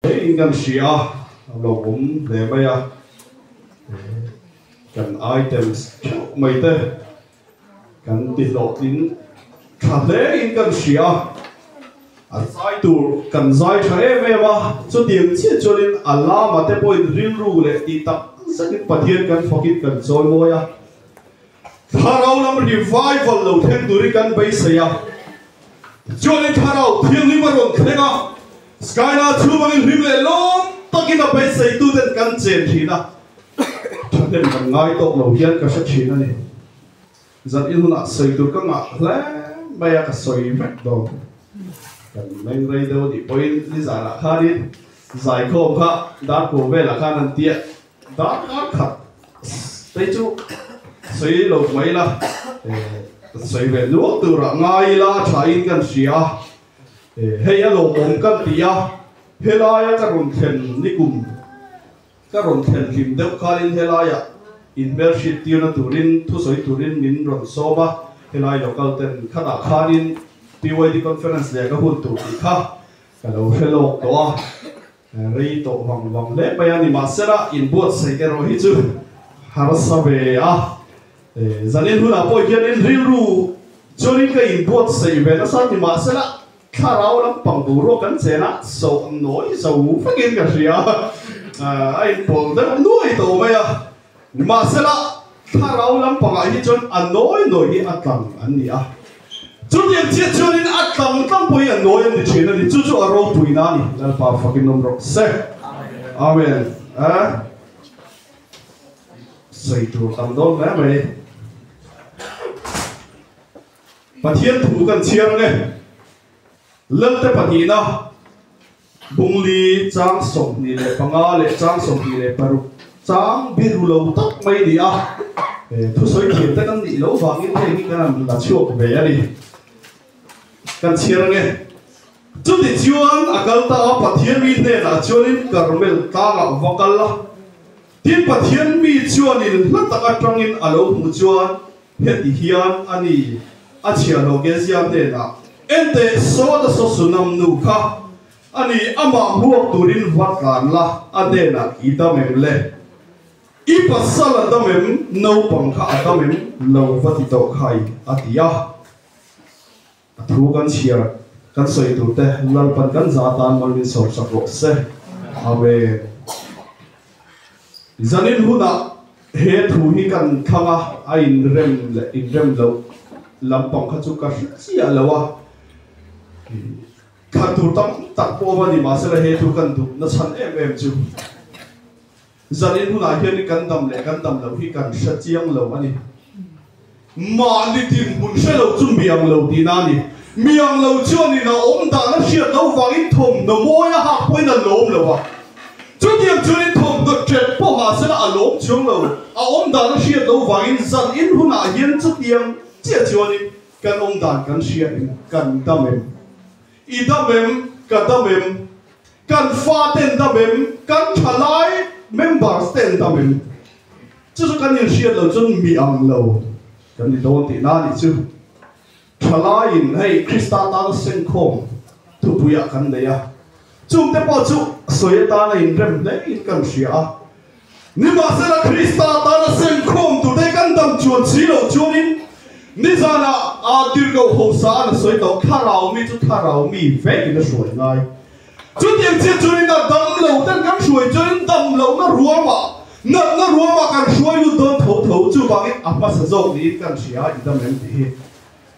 He in kan hria a, a lo awm hle mai a, kan items theuh mai te kan tihlawh tin tha hle in kan hria a, a zai tur kan zai tha em em a, chutiang chiah chuan in a lama te pawhin rilru leh tih tak zet in Pathian kan fakin kan chawi mawi a, Thlarau lam revival lo thleng tur hi kan beisei a, tichuan in Thlarau thianghlim a rawn thleng a, Skylar chu mangin hlim leh lawm takin a beiseitu ten kan chen thin a, thahnem kan ngai tawk lo hian ka hre thin a ni. Zan in hunah sawi tur ka ngah hle mai a, ka sawi vek dawn. Kan meng rei deuh a nih pawhin nizanah khanin zaikhawm kha darkawm velah khan an ti a. Dang ngar khat te chu sawi lo mai la, kan sawi ve nual tur ah ngai ila tha in kan hria a, hei a lawmawm kan ti a, helai a ka rawn thlen nikum ka rawn thlen hlim deuh khan in helai ah in hmel hriat tir na tur in thu sawi tur in min rawn sawm a, helai local ten khat ah khan in BYD conference leh ka hun tur tih kha ka lo hre lawk tawh a. Rei tawh vang vang hle mai a ni mahsela in buatsaih erawh hi chu harsa ve a. Zanin hunah pawh hian in rilru chuanin ka in buatsaih ve nasa ni mahsela thlarau lampang boruak kan chenah sawh nawi zo vekin ka hria a. A in pawl deuh nuai tawh mai a. Mahsela, thlarau lam pangah hi chuan a nawi nawi hi a tlang an ni a. Chutiang chiah chuanin a tlang tlang pawhin a nawi an ni thin a ni. Chu chu a ropuina a ni. Lalpa fakin awm rawh se. Amen. A sawi tur tam dawn hle mai. Pathian thu kan chhiar nge? Lalte pahnihna. Bungli, chang sawmhnih leh panga leh chang sawmhnih leh paruk chang biru lo tak mai nia. He thusawi thiam te kan nih lo vangin hei hi kan han la chhuak ve a ni. Kan chhiar nge. Chuti chuan a kal ta a, Pathian mi hnenah chuanin Carmel tlangah va kal a. Tin, Pathian mi chuanin hla tak atangin a lo hmuh chuan Heti hian a ni, a chhia lo Geziam hnenah, Ente Soda Sosunam nu kha a ni, amah hmuak turin va tlan la, a hnenah i dam em le? I pasal a dam em, naupang kha a dam em lo va ti tawh khai? a ti a. A thu kan chhiar, kan sawi tur te lalpan kan za atan man min sawm sak rawh se. Amen. Zanin hunah he thu hi kan thlang a, a inrem leh inrem loh lampang kha chu ka hre chiah lo a, thlan tur tam tak pawh a va ni mahsela he thu kan duh nachhan em em chu. Zalin hunah hian i kan dam leh kan dam loh hi kan hre chiang lo a ni. Mahni tin hmun hre lo chu mi ang lo tihna a ni. Mi ang lo chuan in a awm dan a hriat loh vangin thawmhnaw mawi a hak pawhin a lawm lo a. Chutiang chuan in thawmhnaw ṭet pawh mahsela a lawm chuang lo. A awm dan a hriat loh vangin zalin hunah hian chutiang chiah chuan in kan awm dan kan hria em? Kan dam em? I dam em? Ka dam em? Kan fate nda mem, kan thalai members te nda mem. Chu chu kan inhriat lo chuan mi ang lo kan ni dawn tih na ni chu. Thalaiin hei Krista atana senkhawm tupuiah kan nei a, chungte pawh chu sawi atana inrem hlein kan hria a. Nimahsela Krista tana sem khawm tu te kan dam chuan si lo chuanin nizan ah aa tir lo ho sa a na sawi tawh thlarau mi chu thlarau mi vek in a hruai ngai. Chutiang chiah chuanin a dam lo ten kan hruai chuanin dam lo na ruam ah nat na ruam ah kan hruai lut dawn tho tho chuvangin a hmasa zawk niin kan hria i dam em ti hi.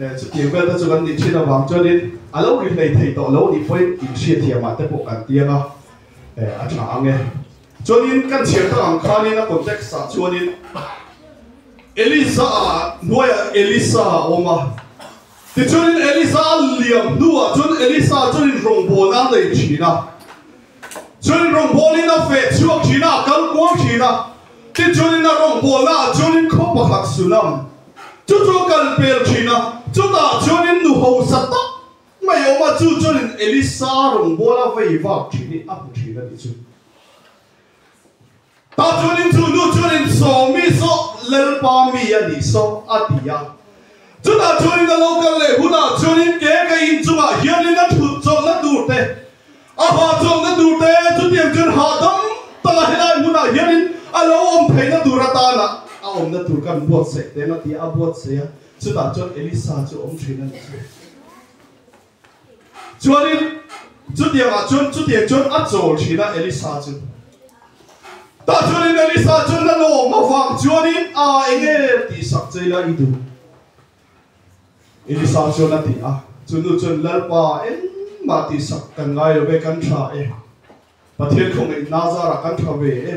E, chutiang vel te chu kan nih thin avang chuanin a lo ri hlei thei tawh lo ni pawhin inhriathiamah te pawh kan ti anga e, a tha ang e. Chuanin kan chhiar ta ang khanin a context ah chuanin Eliza-a hnuaiah Elisa a awm a, tichuanin Eliza a liam hnuah chuan Elisa chuan in rawngbawlna a nei thin a. Chuanin rawngbawlin a feh chhuak thin a, a kal kual thin a. Tichuanin a rawngbawlna a chuanin khaw pakhat su lam chu chu a kal pel thin a. Chutah chuanin nu hausa tak mai awm a, chu chuanin Elisa rawngbawla vei vak thin hi a hmu thin a ni chu. Tah chuan in chu nu chuan in Sawmi saw Lalpa mi a ni saw a ti a. Chutah chuan in a lo kal leh hunah chuan in ke ka inchungah hian in a thut chawlhna tur te, a ha chawlhna tur te chutiang chuan hahdam taka helai hmunah hian in a lo awm theihna tur atanah a awmna tur kan buatsaih teng a ti a. A buatsaih a chutah chuan Elisa chu awm thin a ni. Chuanin chutiangah chuan chutiang chuan a chawl thin a Elisa chu. Tah chuanin Elisa chuan a lawm avang chuanin, Aa, enge tih sak chei la i duh? Elisa chuan a ti a. Chu nu chuan, Lalpa, engmah tih sak kan ngai lo ve, kan thlah e. Pathian khawngei hna zarah kan tha ve e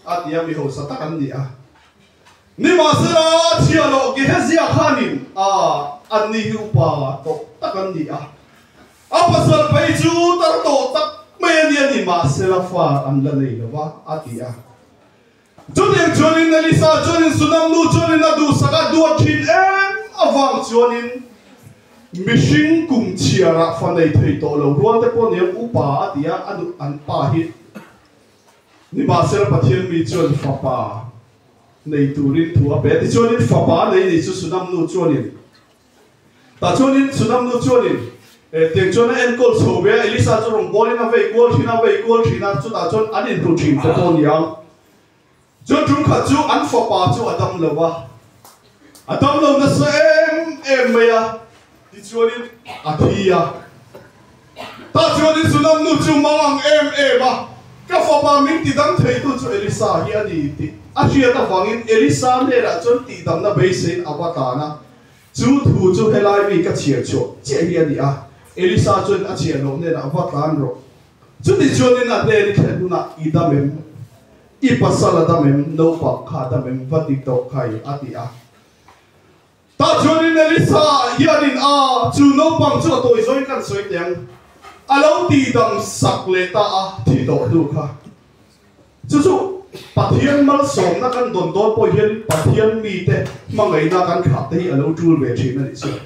a tia mi hausa tak an ni a. Nimahsela, Thialawh Gehezia khanin a anni hi upa tawh tak an ni a. A pasal phei chu tar tawh tak mai a nia nimahsela far an la nei lo va a ti a. Chutiang chuanin Elisa chuanin Sunam nu chuanin a duhsak a duh thin em avang chuanin mihring kum chhiarah fa nei thei tawh lo rualte pawh ni ang upa a ti a, an pa hi nimahsela Pathian mi chuan fapa nei turin thu a pe a tichuanin fapa nei ni chu Sunam nu chuanin Tah chuanin Sunam nu chuanin, Eh, tiang chuan a enkawl chho ve a, Elisa chu rawn kawlin a vei kual thin a, a vei kual thin a, chutah chuan an inhlu thin te pawh a ni ang. Chuan ṭum khat chu an fapa chu a dam lo a, a dam lo nasa em em mai a, tichuanin a thi a. Tah chuan i zulamnu chu mau ang em em a, ka fapa min ti dang theitu chu Elisa hi a ni ti a hriat avangin Elisa hnenah chuan tihdamna beiseiin a va tan a. Chu thu chu helai mi ka chhiar chhuah chiah hi a ni a, Elisa chuan a chhiar loh hnenah va tan rawh. Chutichuan in a hnen i thlen hunah i dam em? I pasal a dam em? Naupang kha a dam em? Va ti tawh kai, a ti a. Tah chuan in Elisa hian in a chu naupang chu a tawi zawin kan sawi teh ang a lo ti dam sak leh ta a thih dawh hnu kha. Chu chu Pathian malsawmna kan dawn dawn pawh hian Pathian mite hmangaihna kan khakte hi a lo tul ve thin a nih chuan.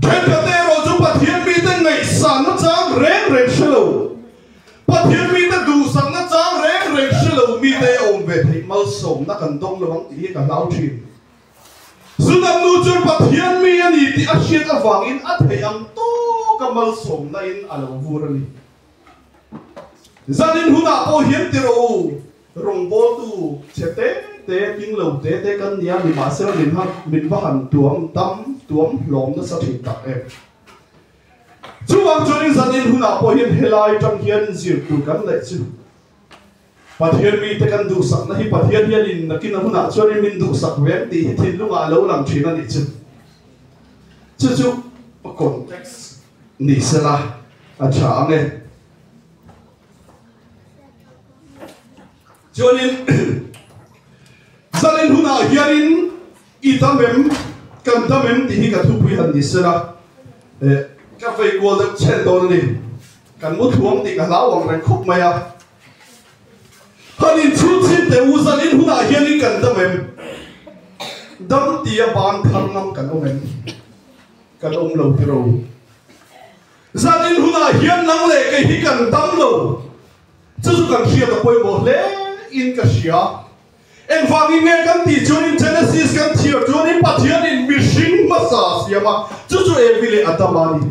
Thenkhat te erawh chu Pathian mite ngaihsakna chang reng reng hre lo, Pathian mite duhsakna chang reng reng hre lo mite a awm ve theih malsawmna kan dawng lo ang tih hi ka hlau thin. Sudan nu chuan Pathian mi a ni tih a hriat avangin a theih ang tawka malsawmnain a lo vur a ni. Zanin hunah pawh hian ti rawh u, rawngbawltu che te te, tinglo te te kan nia, nimahsela min han, min va han tuam dam, tuam hlawm nasa thin tak em. Chuvang chuan in zanin hunah pawh hian helai tang hian zir tur kan neih chu. Pathian mite kan duhsakna hi Pathian hian in nakin a hunah chuan i min duhsak ve ang tih hi thinlungah a lo lang thin a nih chu. Chu chu context ni se la a tha ang e. Chuanin zalin hunah hianin i dam em kan dam em tih hi ka thupui han ni se la ka vei kual deuh chhen dawn a ni. Kan mu thuam tih ka hlau ang reng khawp mai a. Kan inchhunchhin te u zan in hunah hian in kan dam em? Dam ti a ban phar ngam kan awm em? Kan awm lo ti ro. Zan in hunah hian nang leh kei hi kan dam lo. Chu chu kan hriat a pawimawh hle in ka hria. Engvangin nge kan tih chuan in Genesis kan chhiar chuan in Pathianin mihring hmasa a siam a, chu chu Evi leh Adam a ni.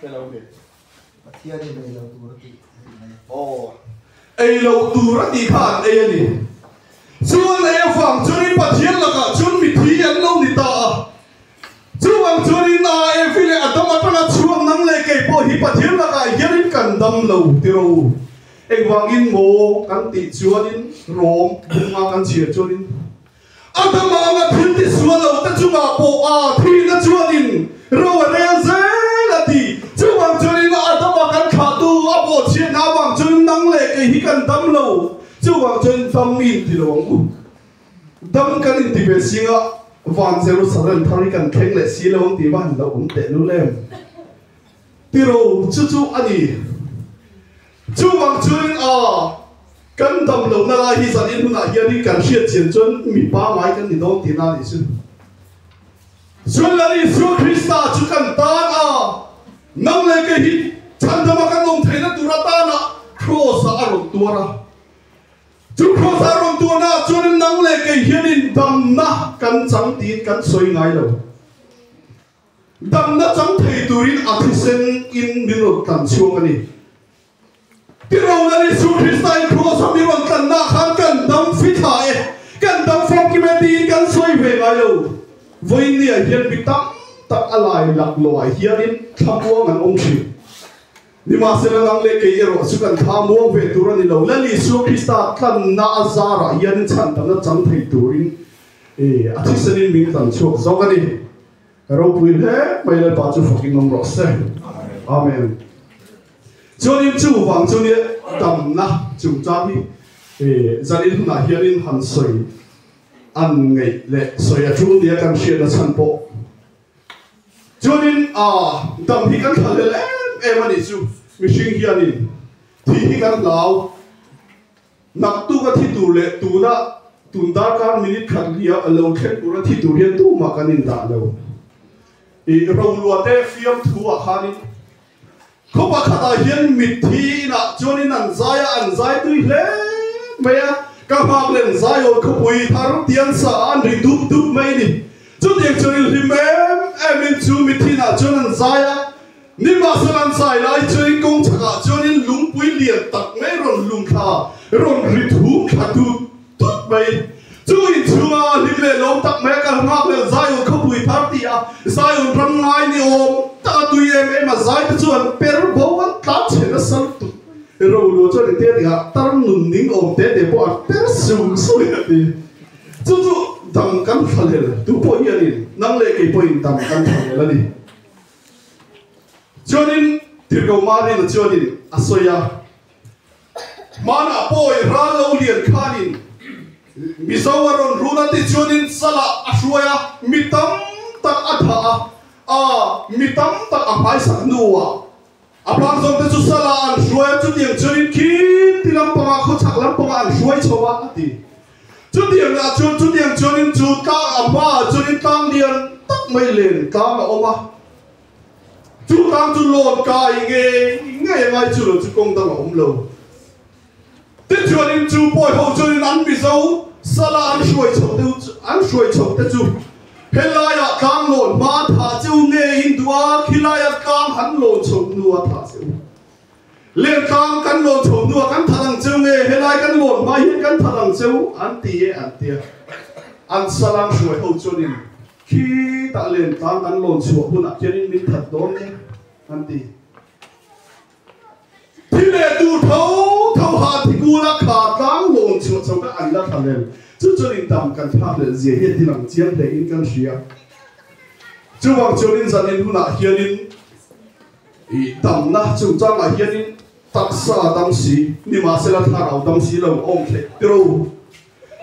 Hello there. Pathian in ei lo tur a tih theih mai. Aw. Ei lo tur a tih khan ei a ni. Chuan ei avang chuan in Pathian lakah chuan mithi an lo ni ta a. Chuvang chuan in a Evi leh Adam atanga chhuak nang leh kei pawh hi Pathian lakah hian in kan dam lo tiro. Engvangin maw kan tih chuan in rawm bunga kan chhiar chuan in. A dam ang a thil ti sual lo te chungah pawh a thihna chuan in ro a rel zel a ti. Chuvang chuan in a dam a kan khah tu a bawh chhiat na avang chuan in nang le kei hi kan dam lo chuvang chuan in dam i inti lo ang u. Dam kan inti ve singah van Jerusalem thar hi kan thleng leh si lo ang tih va han lo awm tehlul em? Tilo chu chu a ni. Chuvang chuan a kan damlohna lai hi zan in hunah hianin kan hriat chian chuan mipa ngai kan ni dawn tihna a nih chu. Chuan an Isua Krista chu kan tan a nang leh kei hi chhandama kan awm theihna tur atanah Kraws ah a rawn tuar a. Chu Kraws ah a rawn tuarna ah chuan nang leh kei hianin damna kan chang tiin kan sawi ngai lo. damna chang thei turin a thisen in min rawn tlan chhuak a ni. Ti rona an Isua Krista-in Kraws a min rawn tlanna khan kan dam fi thla e, kan dam fam kim e tiin kan sawi ve ngai lo. Vawinia hian mi tam tak a lailak lawah hianin thlamuang an awm thin. Nimahsela nang leh kei erawh chu kan thlamuang ve tur a ni lo. Lal Isua Krista tlanna a zarah hianin chhan damna chang thei turin I, a thisen in min kan chhuak zawk a ni. Ka ropui hle mai lal pa chu fakin awm rawh se. Amen. Chuan in chuvang chu nia damna chungchang hi i, zan in hunah hian in han sawi an ngeih leh sawi a ṭum nia kan hriat a chhan pawh. Chuan in a, dam hi kan thalhel em em a nih chu mihring hian in, Thi hi kan hlau. Hnam tuk a thi tur leh tuna tun darkar minute khat hliah a lo thlen tur a thi tur hian tumah kan in dah lo. I ro luate fiam thu ah khanin khawpa khat ah hian mitthi in ah chuan in an zai a, an zai tui hle mai a, ka nghak len zaiawr khawpui thar tiang sa ah an ri dup dup mai a ni. Chutiang chuan in hlim em em in chu mitthi in ah chuan an zai a. Ni mahse kan fai lai chu in kawng chhak ah chuan in lungpui lian tak mai rawn hlum thla, rawn rit hum thla tu tut mai. Chu in chhung a hlim leh lawm tak mai a kal nghak leh Zion khawpui thar ti a, Zion ram ngai ni awm tak a tui em em a, zai te chu an per bo an tlan chhen a sal tuk. Ro lua chuan in tia ding a, tar nun ning awm te te pawh an per sung sung a ti. Chu chu dam kan fa lel, tu pawh hian in nang leh kei pawh in dam kan fa lel a ni. Chuanin Tirgo Marina chuanin a sawi a, Hmanah pawi ral lo lian khanin Mizo a rawn run a tih chuanin Sala a hruai a, mi tam tak a thah a, a mi tam tak a hmaisak hnuah, A bang zawngte chu Salah an hruai a, chutiang chuanin khin ti lampanga khawchhak lampanga an hruai chho a, a ti. Chutiang lah chuan chutiang chuanin chu tlang a hmaah chuanin tlang lian tak mai len tlang a awm a, chu tlang chu lawnka a i ngei ngei a ngai chu lo chu kawng dang a awm lo. Te chuan in chu pawi ho chuan in an mizo sala an hruai chho deuh an hruai chho te chu he laia tlang lawn hma tha cheu nge in duh a khi laia tlang han lawn chho hnu a tha cheu len tlang kan lawn chho hnu a kan tha dang cheu nge he lai kan lawn hma hian kan tha dang cheu an ti e an tia an sala an hruai ho chuan in khi tah len tlang kan lawn chhuah hunah khian in min that dawn nge an ti. Thil leh tur tho tho ha thikula kha tlang lawn chhuah chho kha an la thla lel. Chu chuan in tam kan thlak leh zia hian thil ang chiang hle in kan hria. Chuvang chuan in zan in hunah hian in ih tam na chungchang ah hian in taksa dang si ni mah se la thlarau dang si lo awm theih tiro.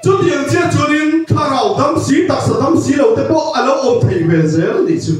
Chu ti ang chiah chuan in thlarau dang si taksa dang si lo te pawh a lo awm thei ve zel ni chu.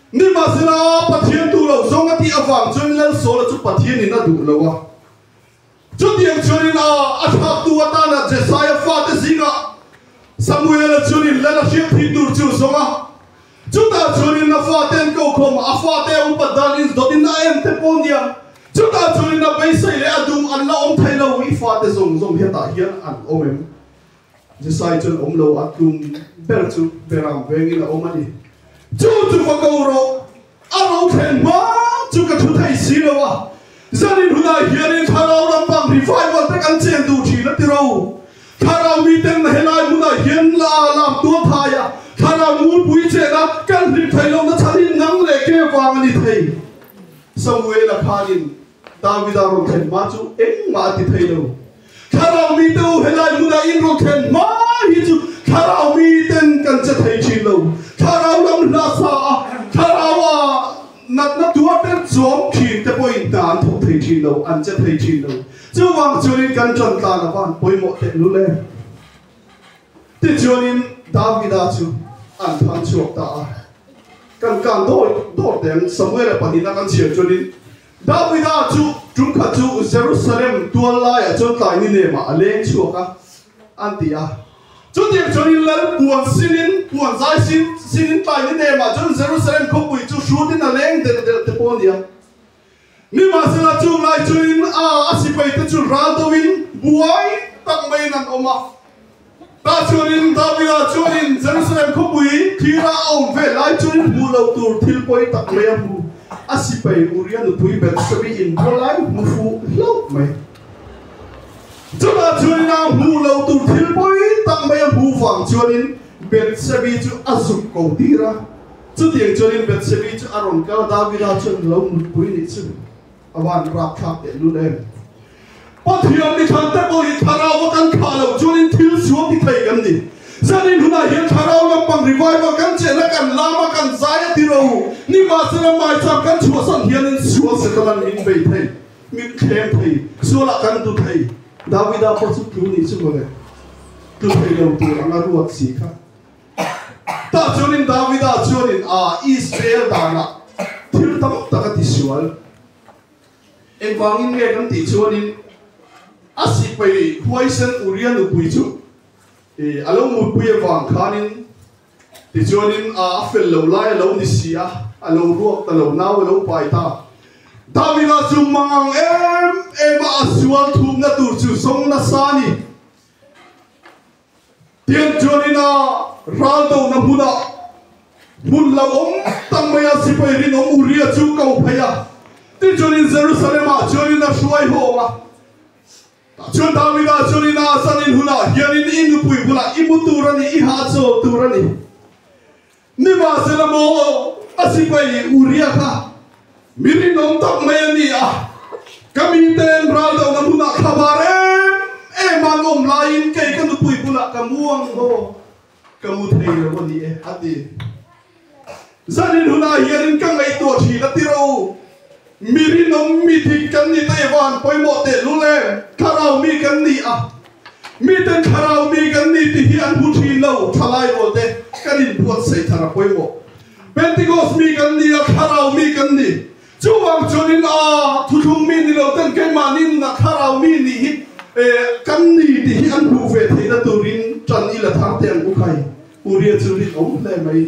Nimahsela, Pathian duhloh zawng a tih avang chuan Lalsawla chu Pathianin a duh lo a. Chutiang chuan in a a thlaktu atana Jesiah fate zingah Samuela chuan in Lal a hriat theih tur chu zawng a. Chutah chuan in a fate'n kokhawm a fate upat dan in dawt in a en te pawh nia. Chutah chuan in a beisei leh a duh an la awm thei lo. I fate zawng zawng hiatah hian an awm em? Jisai chuan awm lo a tlum ber chu Beram vengin a awm a ni. Chu tupa ko rawh, a ro thlen hma chu ka thu thei si lo a, zan in hunah hianin thlarau lampang revival te kan chen duh thin a ti ro. Thlarau mi ten na helai hmunah hian la lak tual thai a, thlarau muipui chena kan hlim thei lohna chhan hi nang leh kevang a ni thei. Samuela khanin Davida rawn thlen hma chu engmah a ti phei lo. Thlarau mite u helai hmunah in rawn thlen hma hi chu thlarau miten kan che thei thin lo. Thlarau lam hlasa a, thlarau a natna tuar ber chuang thin te pawhin hna an thawk thei thin lo, an che thei thin lo. Chuvang chuan in kan tantlan avan pawimawh teh lu le. Tichuanin Davida chu an phang chhuak ta a, kan kan dawi daw te ang. Samuela pahnih a kan chhiar chuanin Davida chu ṭum khat chu Jerusalem tual laiah chuan tlai ni lemah a leng chhuak a, an ti a. Chutik chuanin lal puan sinin, puan zai sinin tlai ni lemah chuan Jerusalem khawpui chu hrutin a leng delh delh te pawh a ni a. Nimahsela chunglai chuin aa a sipaite chu ral deuhin buai tak maiin an awm a. Tahchuanin Davida chuanin Jerusalem khawpui thira a awm ve lai chuan hmuh loh tur thil pawi tak mai a hmu. A sipai Uria nupui Betshebi in bua lai hmu fuh hlauh mai. Chutah chuanin aa hmuh loh tur thil pawi tak mai a hmu vang chuanin Betshebi chu a zuk ko tir a, Chutiang chuan in Betshebi chu a rawn kal, Davida chuan in lo nutpui nih chu a van rapthlak teh lut em? Pathian mi thante pawh hi thlarau a kan khah loh chuan in thil sual ti thei kan ni. Zan in hunah hian thlarau lampang revival kan cheh na kan lam a kan zai a ti ro u, ni mahsela hmaisam kan chhuahsan hian in sual se tan an min bei thei, min thlem thei, sualah kan du thei. Davida pawh chu tlu nih chu mawle, tlu thei lo tur anga ruat si kha. Tah chuan in Davida chuan in a Israel danah thil tam tak a ti sual. Engvangin nge kan tih chuan in a sihpei huaisen Uria nupui chu i a lo mutpui avang khan in tichuan in a a fel lo lai a lo ni si a, a lo ruak ta lo, nau a lo pai ta. Davida chu mangang em em a a sual thumna tur chu sawmnasa a ni. Tiangtuan ina ral dohna hmunah hmun lo awm tak maia sipai rinawm Uria chu ko phei a, tichuan in Jerusalemah chuan in a hruai hawng a. Tahchuan Davida chuan ina a zanin hunah hian in, I nupui bulah i mu tur a ni, i hahchawl tur a ni. Ni mahse lam aw aw, a sipai hi Uria kha mi rinawm tak mai a ni a, ka mite'n ral dohna hmunah thla var em em an awm laiin kei ka nupui bulah ka mu ang haw, ka mu thei lo a ni e, a ti. Zanin hunah hianin ka ngaihtuah thin a ti rawh u. Mi rinawm, mi dik kan ni Taiwan pawimawh teh lu le thlarau mi kan ni a, miten thlarau mi kan ni ti hi an hmu thin lo, thalai rawl te kan in buat saih thar a pawimawh. Pentecost mi kan ni a, thlarau mi kan ni. Chuvang chuan in aa thuthlung mi ni lo ten keimah ni nuna thlarau mi ni hi kan ni ti hi an hmuh ve theihna turin tan ila thar te an uk ai? Uria chu rilawm hle mai.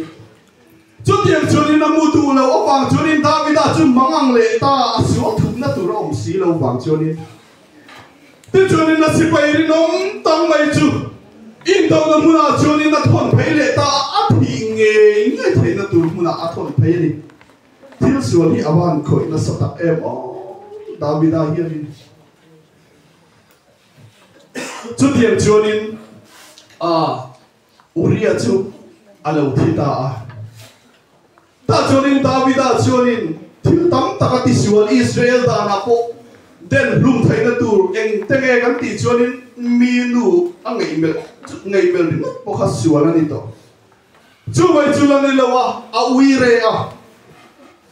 Chutiang chuan in a hmu duh loh avang chuan in Davida chu mangang leh ta a sual thukna tur a awm si lo vang chuan in te chuan in a sipai rinawm tam mai chu indohna hmunah chuan in a thawn phei leh ta a, a thih ngei ngei theihna tur hmunah a thawn phei a ni. Thil sual hi a van khawih nasa tak em aw Davida hian in chutiang chuan in a. Uria chu a lo thi ta a. Tah chuanin Davida chuanin thil tam tak a tisual, Israel danah pawh den hlum theihna tur engte nge kan tih chuanin mi nu a ngeih melh chu ngeih melh ringawt pawh kha sual a ni tawh. Chuvai chu la ni lo a, a ui reh a.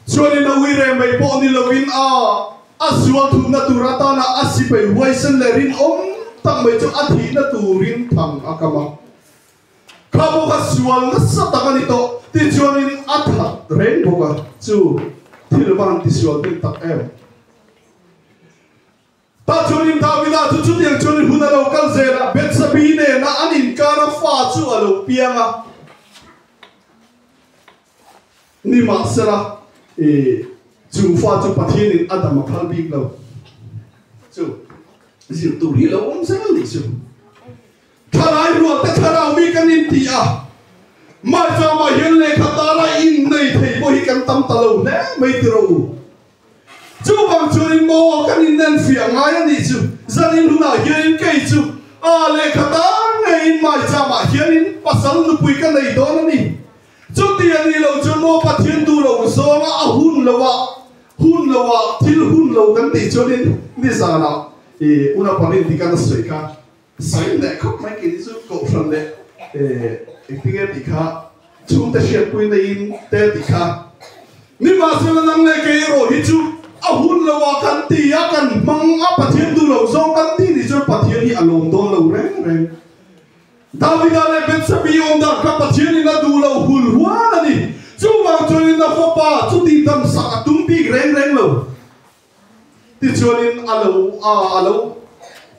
Chuanin a ui reh mai pawh ni lovin a a zualthumna tur atana a sipai huaisen leh rinawm tak mai chu a thihna turin thang a kam a. Kha bawk a sual nasa tak a ni tawh tichuanin a that reng bawk a, chu thil van tisual hnem tak em! Tahchuanin Davida chu chutiang chuan i hun a lo kal zel a, Betsabee nena an inkar a fa chu a lo piang a. Nimahsela, i chung fa chu Pathianin a dam a phal bik lo, chu zir tur hi lo awm zel ni chu. Thalai rualte thlarau mi kan inti a, mahse mah hian lehkha tara innei thei pawh hi kan tam ta lo hle mai tiraw u? Chuvang chuan in maw kan innanfiah ngai a nih chu, zan in hunah hian in kei chu a lehkha tan ngei in mai cham ah hian in pasal nupui ka nei dawn a ni. Chuti a nih lo chuan maw Pathian duhlo zawng a a hun lo a, hun lo a, thil hun lo kan tih chuan in nizan ah i Unaparintika na sawi kha. Sawi leh khawp mai kei te chu Kohhran leh i ti nge tih kha chhung te hriat pui nei in te tih kha ni mah se nang leh kei erawh hi chu a hun lo a kan ti a kan hmang a Pathian duh loh zawng kan tih ni chuan Pathian hi a lawm dawn lo reng reng Davida leh Betsabi awm dan kha Pathian in a duh lo hul hual a ni chuvang chuan in a fapa chuti damsak a tum bik reng reng lo. Tichuanin a lo a a lo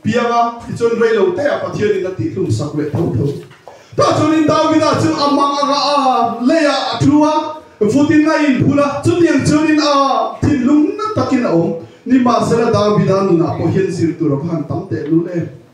piang a, tichuan rei lo teh a Pathianin a tihhlumsak leh tho tho. Tah chuanin Davida chu a mang anga a lei ah a thu a, vutin a inphulh a, chutiang chuanin a thinlung nat takin a awm. Nimahsela Davida nunah pawh hian zir tur a va han tam tehlul em!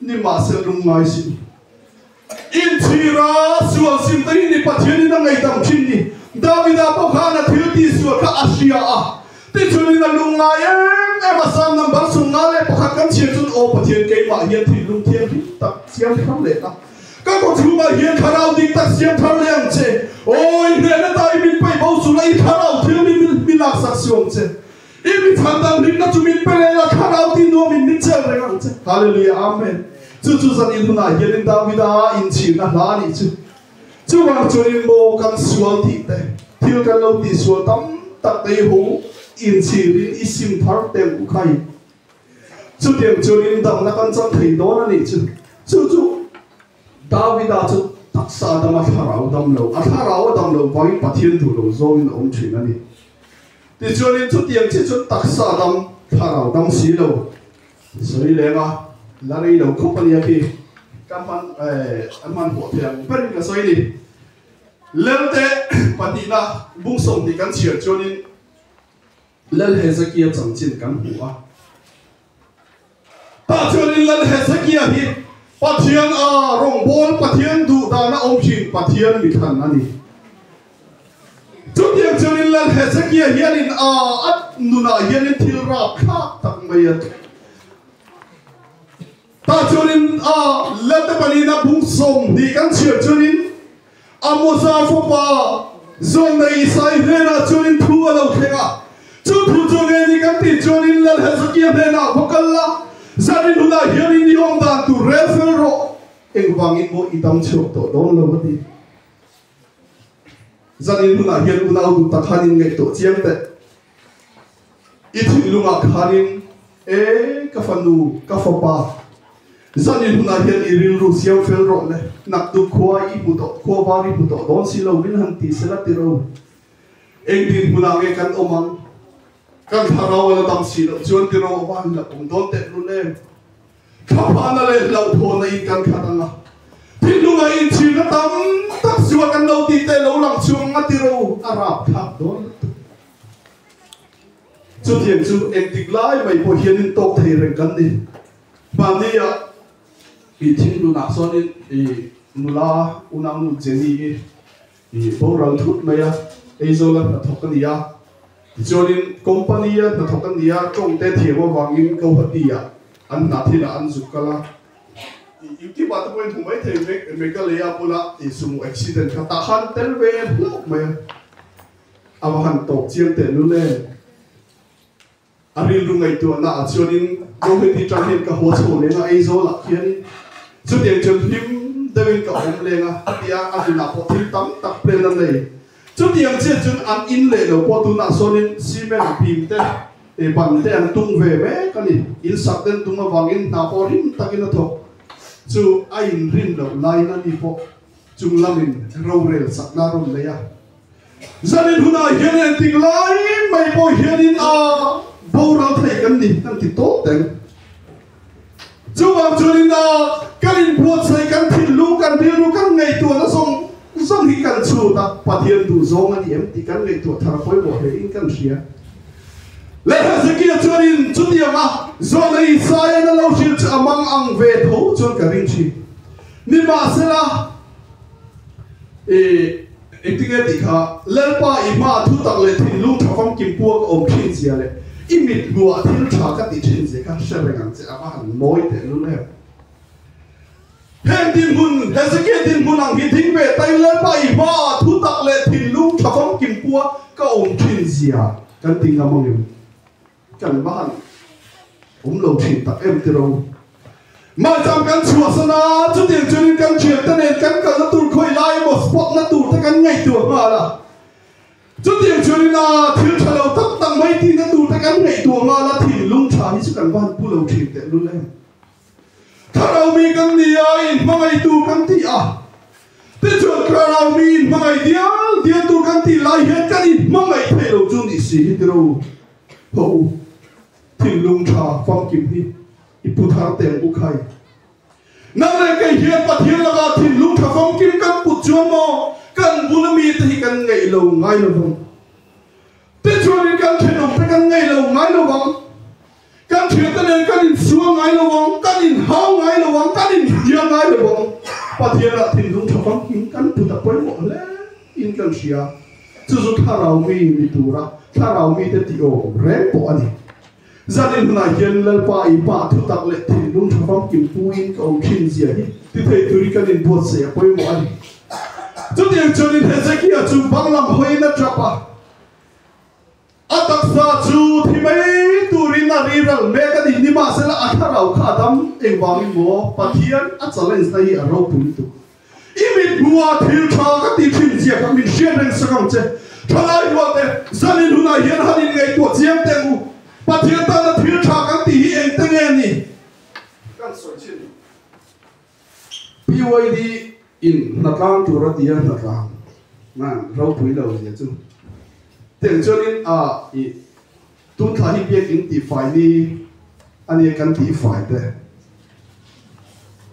Ni mah se lung ngai si i. In chhir a sual sim te hi ni Pathian in a ngei dang thin ni. David a pawh khan a thil ti sual kha a hria a ti chun in a lung ngai em em a. Salm number sum nga leh pakhat kan chhiar chun aw Pathian kei mah hian thil lung thianghlim tak siam ni thar leh tak ka kaw chhung ah hian thlarau ding tak siam thar leh ang che. Aw i hriat na ta i min paih bo chun a i thlarau thiang mi min laksak suam che. I mi chhan dang hlimna chu min pe leh a, Thlarau tih nuam in min cheu reng ang che. Hallelujah! Amen! Chu chu zan in hunah hianin Davida inchirna hla a nih chu. Chuvang chuanin maw kan sual tih te, thil kan lo ti sual tam tak te i ho inchir in i sim thar tem u khai. Chutiang chuan in damna kan cham thei dawn a nih chu. Chu chu. Davida chu taksa dam a thlarau dam lo, a thlarau a dam lo vangin Pathian duh lo zawngin a awm thin a ni. Tichuanin chutiang chi chu taksa dam, thlarau dam si lo. Sawi leng a, la rei lo khawp a nia khi ka hman a hmanhawh theih ang berin ka sawi a ni. Lelte patihna bung sawm tih kan chhiar chuanin Lal Hezekia chanchin kan hmu a. Tah chuan in Lal Hezekia hi Pathian a rawngbâwl, Pathian duhdana awm thin Pathian mithan a ni. Chutiang chuan in Lal Hezekia hian in a a nunah hian in thil râp thlâk tak mai a tluk. Tah chuanin a la te pali na bung sawm hnih kan chhiar chuanin a Moza fapa Zawngdai Isai hnenah chuanin thu a lo thleng a. Chu thu chu nge ni kan tih chuanin Lalhazakya hnenah va kal la, zan in hunah hian in ni awm dan tur rel fel rawh, engvangin maw i dam chhuak tawh dawn lo a ti. Zanin hunah hian unautu pakhat in ngaih tawh chiang teh i thinlung ah khan in, E ka fanu, ka fapa, zanin hunah hian i rilru siam fel rawh le, naktuk khua i hmu tawh, khua var i hmu tawh dawn si lo, min han ti sela ti ro. Eng dinhmun ah nge kan awm ang? Kan thlarau a la dam si loh chuan ti ro, a va hrilh a pawm dawn teh hlul em. Thlapahna leh hlauhthawhna in kan khat ang a, thinlungah inthirna tam tak chu a kan lo tih te lo lang chu anga tiro a rap thak dawn lutuk mai. Chutiang chu engtik lai mai pawh hianin tawk thei reng kan ni. Mahnia i thinlunah chuan i nula, unau nu Jenny hi Ih boral thut mai a, Aizawla hnathawk a ni a, tichuanin company a hnathawk a ni a, tawngte thiam avangin Gauhati ah an hna thil ah an zuk kal a, ih YouTube ah te pawhin hmuh mai thei vek mek a lei a bula ih sumu accident kha tah khan tel ve hlauh mai a, ava han tawp chiang teh lul em. A rilru ngaihtuahna ah chuanin Kawngeti ṭang hian ka hua chho leng a, Aizawl ah khianin chutiang chuan hlim deuh in ka awm leng a, a ti a, a tinah pawh thil tam tak plan a nei. Chutiang chiah chuan an in leh lo pawh tunah sawnin cement bim te, ban te an tung ve mek a ni. In sak den tum avangin hna pawh rim takin a thawk chu a in rin loh laiin a ni pawh. Chung lamin rorel sakna a rawn nei a. Zanin hunah hian en tik lai mai pawh hianin aah boral thei kan ni kan ti tawp teng. Chuvang chuanin aah kan inbuatsaih kan thinlung kan rilru kan ngaihtuahna zawng zawng hi kan chhut a Pathian duh zawng a ni em tih kan ngaihtuah thar a pawimawh hle in kan hria. Leh Hezekia chuanin chutianga Zuana Isaiana lo hrilh chu a mang ang ve tho chuan ka ring thin. Nimahsela, i ti nge ti kha, Lalpa i hma thutak leh thinlung tha famkim pu a ka awm thin sia leh i mitluah thil tha ka ti thin sia kha hre reng ang che a va han mawi teh lul em? He dinhmun, Hezekia dinhmun ang hi ding ve ta in Lalpa i hma thutak leh thinlung tha famkim pu a ka awm thin sia kan ti ngam ang em? Kan mahn awm lo thin tak em tiro. Mah chang kan chhuahsan a, chutiang chuanin kan thiante nen kan kalna tur khawi lai emaw spotna turte kan ngaihtuah nghal a. Chutiang chuanin a, thil tha lo tak tak mai tihna turte kan ngaihtuah nghal a, thinlung tha hi chu kan mahn pu lo thin tehlul em. Thlarau mi kan ni a, in hmangaitu kan ti a. Tichuan thlarau mi in hmangai dial dial tur kan tih lai hian kan in hmangaih theih lo chu nih si hi tilo. Hawh u, thinlung tha famkim hi i pu thar teng u khai. Nang leh kei hian Pathian laka thinlung tha famkim kan put chuan maw kan bula mite hi kan ngeih lo ngai lovang. Tichuanin kan thenawmte kan ngeih lo ngai lovang. Kan thiante nen kan insual ngai lo ang, kan inhau ngai lo ang, kan inhria ngai lo ang. Pathianah thin dum tha fang hi kan puta pawimawh hle in kan hria. Chu chu thlarau mi ni tura thlarau mite ti awm reng pawh a ni. Zanin hunah hian Lalpa i pah thutak leh thin dum tha famkim puin ka awm thin zia hi ti thei turin kan inbuatsaih a pawimawh a ni. Chutiang chuan in Hezekiah chu banglam hawiin a tap a. A taksa chu thi mai turin a ri ral mek a nih, nimahsela a thlarau kha a dam engvangin maw? Pathian a challenge-na hi a ro pum tuk. I mithmuaa thil tha ka ti thin zia kha min hriat reng sak ang che. Thalai rualte, zanin hunah hian han in ngaihtuah chiang teh u. Pathian tana thil tha kan tih hi engte nge ni? Kan sawi chhin. PYD in hna tlang tur a tia hna tlang man ropui lo zia chu tiang chuan in ah i tun thla hi biak in ti fai ni a nia kan ti fai te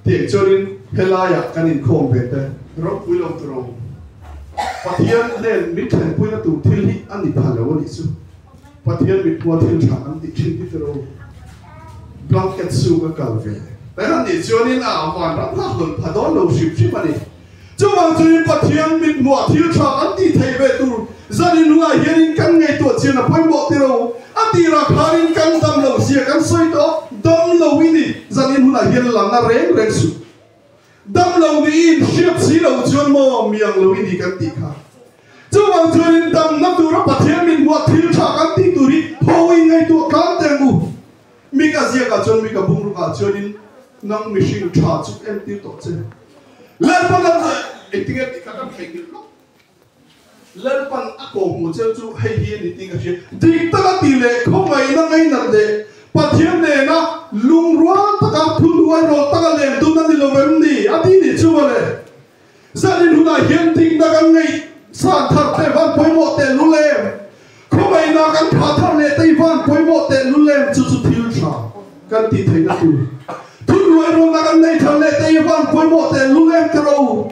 tiang chuan in he lai ah kan in khawm ve te ropui lo tur ang Pathian nen min thlen pui na tur thil hi a ni pha lo a nih chu. Pathian mikhua thil tha an ti thin tite lo. Blanket suk a kal ve. Kan han nih chuan in a van ram hlak dawn pha dawn lo hrim hrim a ni. Chuvang chu in Pathian mikhua thil tha an ti thei ve tur zan in ruah hian in kan ngaihtuah chian a pawimawh ti lo. A tirah khar in kan damlo zia kan sawi tawh dam lo i ni. Zan in hunah hian lanna reng reng suk. Dam lo niin hriat si lo chuan maw mi ang lo i ni kan tih kha. Chuvang chuanin damna tura Pathian min buat thil tha kan tih tur hi Hoin ngeitu a tlang teng u. Mik a ziak ah chuan mik a bung rukah chuanin nang mihring tha chuk em tir tawh che. Lalpa kan zui. Engtin nge tih kha kan theihnghilh hlawk. Lalpan a ko hmuh cheu chu hei hi a ni tih ka hriat. Dik taka tih leh khawngaihna ngeinat leh Pathian nena lungrual taka thunuai rawh taka lem dun a ni lo em ni? A ti nih chu vawle. Zahlen hunah hian dikna kan ngeih chhan thar teh van pawimawh teh lu lem, khawngaihna kan thah thar leh tei van pawimawh teh lu lem chu chu thil tha kan tih theihna tur. Thunuai rawhna kan nei thar leh tei van pawimawh teh lu lem ka ro.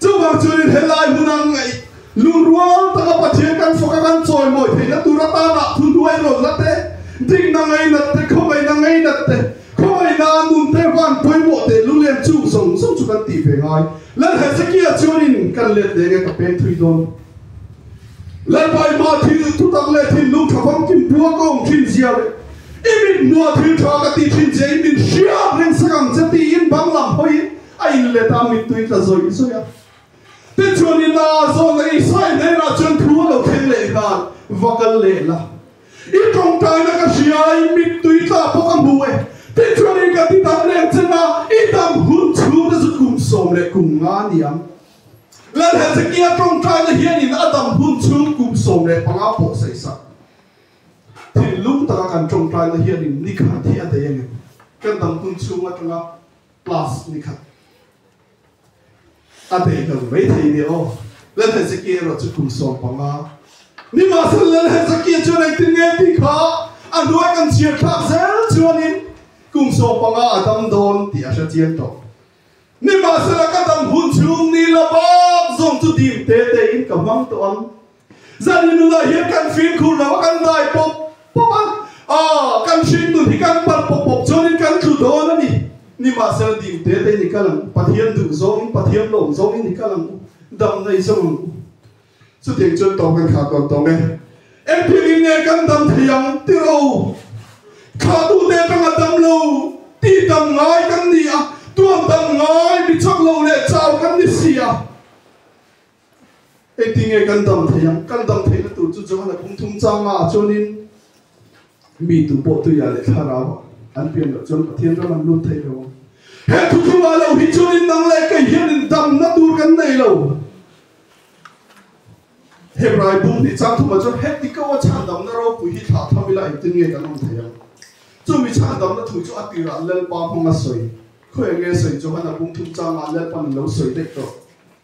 Chuvang chuan in helai huna an ngaih. Lungrual taka Pathian kan fawk a, kan chawimawi theihna tur atana thun hnuai rawnna te, dikna ngainat te, khawvaina ngainat te, khawvaina a nun te, van pawimawh teh lu lem chung zawng zawng chu kan tih ve ngai. Lalh Hezekiah chuan in kan let leh nge ka peng thui dawn? Lalpa i mah thil thutak leh thinlung tha fam kim puak ka awm thin zia leh i mit hmuah thil tha ka ti thin zia i min hria reng sak ang che tiin banglam hawiin A in let a mittui tla zawih zawih a. Te chuan i la zawn a i sawi hnel ah chuan thu a lo thleng leh nghal va kal leh la. I tawngtai na ka hria i mittui tla pawh ka hmu e. Ti chuan in ka ti dam reng chen a, i dam hun chhu te chu kum sawm leh kum nga ni ang. La Hezekia tawngtai na hian in a dam hun chhung kum sawm leh panga pawh sei sak. Thinlung taka kan tawngtai na hian in nikhat hi a dei angem? Kan dam hun chhung atanga. Class ni khat a beih lo mai thei nia aw. Lal Hezekia erawh chu kum sawm panga. Nimahse Lal Hezekia chuan engtin nge tih kha a hnuai kan chhiar thlak zel chuanin kum sawm panga a dam dawn tih a hre chiang tawh. Nimahsela ka dam hun chhung ni la bak zawng chu dim te tein ka hmang tawh ang. Zan in nunah hian kan fir khur lo a, kan dai pawp pawp a, aw, kan hring nun hi kan palh pawp pawp chuan in kan tlu dawn a ni. Nimahsela dim te te in i kal ang u, Pathian duh zawng in, Pathian lawm zawng in i kal ang u, dam nei zawng ang u. Chutiang chuan tawng kan khak dawn tawng e. Engtin in nge kan dam thei ang? Ti rawh u. Khatu te atanga dam lo u, ti dam ngai kan ni a, tuan dam ngai mi chak lo leh chau kan ni si a. Eitinge kan dam thei ang? Kan dam theihna tur chu Johana pumthum changa ah chuanin mi tu pawh tuiah leh thlarau an pian loh chuan Pathian ram an lut theih lo ang. He thuthumah lo hi chuanin nang leh kei hianin damna tur kan nei lo. Hebrai bum hnih chang thumah chuan he tikoa chhandamna ropui hi thlah thawm ila eitinge kan awm thei ang? Chumi chhandamna thu chu a tirah Lalpa hmanga sawi. Khawiah nge sawi Johana pumthum changa Lalpa'n a lo sawi daih tawh?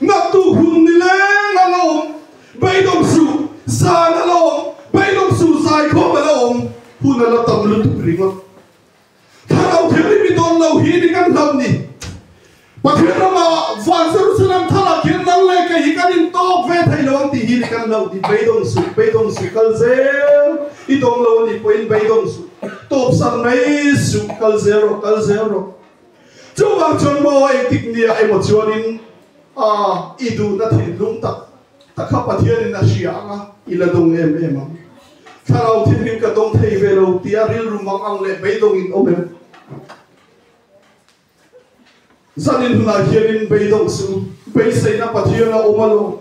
Ngaktu hun ni leng a la awm, beidawng suh zan a la awm, beidawng suh zai khawp a la awm, hun a la tam lutuk ringawt. Thlarau thianghlim i dawn lo hi ni kan hlam ni. Pathian ramah van Jerusalem thar ah khian nang leh kei hi kan intawk ve thei lo ang tih hi ni kan hlo ni. Beidawng suh, beidawng suh kal zel i dawng lo a nih pawhin beidawng suh, tawpsan mai suh kal zel rawh, kal zel rawh. Chuvang chuan maw engtik nia emaw chuanin aah i duhna thinhlung tak ta kha Pathianin a hria ang a, i la dawng em em ang. Thlarau thinrim ka dawng thei ve lo tia rilrum ang ang leh beidawngin awm em? Zanin hunah hianin beidawng chu beiseina Pathian a awm alawm.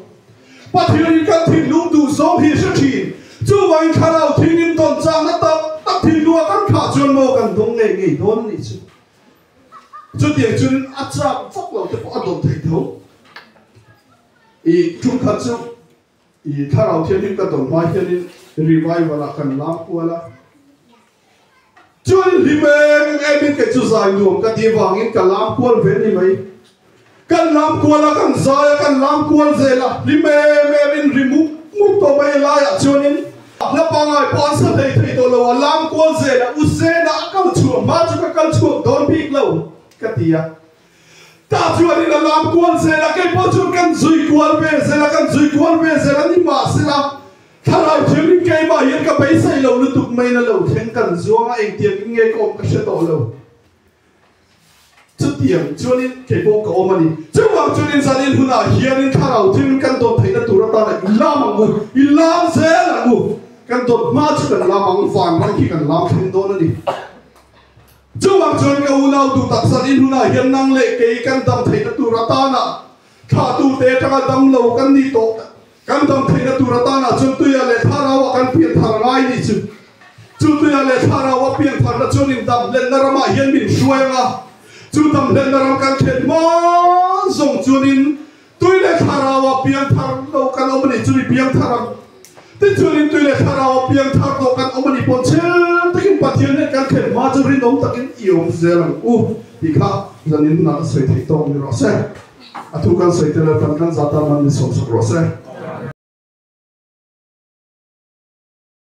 Pathianin kan thinlung duh zawng hi a hre thin. Chuvangin thlarau thinrim dawn chakna tak tak thinlung a kan khah chuan maw kan dawng ngei ngei dawn a nih chu. Chutiang chuan a chak vak lo te pawh a dawt thei tho. I ṭum khat chu i Thlarau Thianghlim ka dawn hma hianin Revival-ah kan lam kual a. Chuan hlim em em in kei chu zai nuam ka tih vangin ka lam kual ve ni mai. Kan lam kual a, kan zai a, kan lam kual zel a, ri mem em in ri muk muk tawh mai a lai ah chuan in a hla pangai pawh an sa hlei thei tawh lo a, lam kual zel a u sen a a kal chhuah hma chu ka kal chhuak dawn bik lo ka ti a, tah chuan in a lam kual zel a kei pawh chuan kan zui kual ve zel a, kan zui kual ve zel a ni mah se a thlarau thil ri kei mah hian ka beisei lo lutuk mai na lo thleng kan zuang a engtiang in nge ka awm ka hre tawh lo. Chutiang chuanin kei pawh ka awm a ni. Chuvang chuanin Zalil hunah hianin thlarau thil kan dawn theihna tur atan ah i lam ang u, i lam zel ang u. Kan dawn hma chu kan lam ang, vanrang khi kan lam thleng dawn a ni. Chuvang chuan ka unau duh tak Zalil hunah hian nang leh kei kan dam theihna tur atan ah thla tute atanga dam lo kan ni tawh tak Kan damtheihna tur atanah chuan tuia leh thlarau a kan pian thar ngai ni chu. Chu tuia leh thlarau a pian tharna chuan in damhlenna ramah hian min hruai ang a. Chu damhlenna ram kan khen mawn zawng chuan in tui leh thlarau a piang thar lo kan awm a nih chu ni piang thar ang. Tichuan in tui leh thlarau a piang thar tawh kan awm a nih pawh chhel takin Pathian hian kan khen hma chu rinawm takin i awm zel ang u tih kha zanin nalh sawi thei tawk ni rawh se. A thu kan sawi tel atan kan zah tan man ni sawmsak rawh se.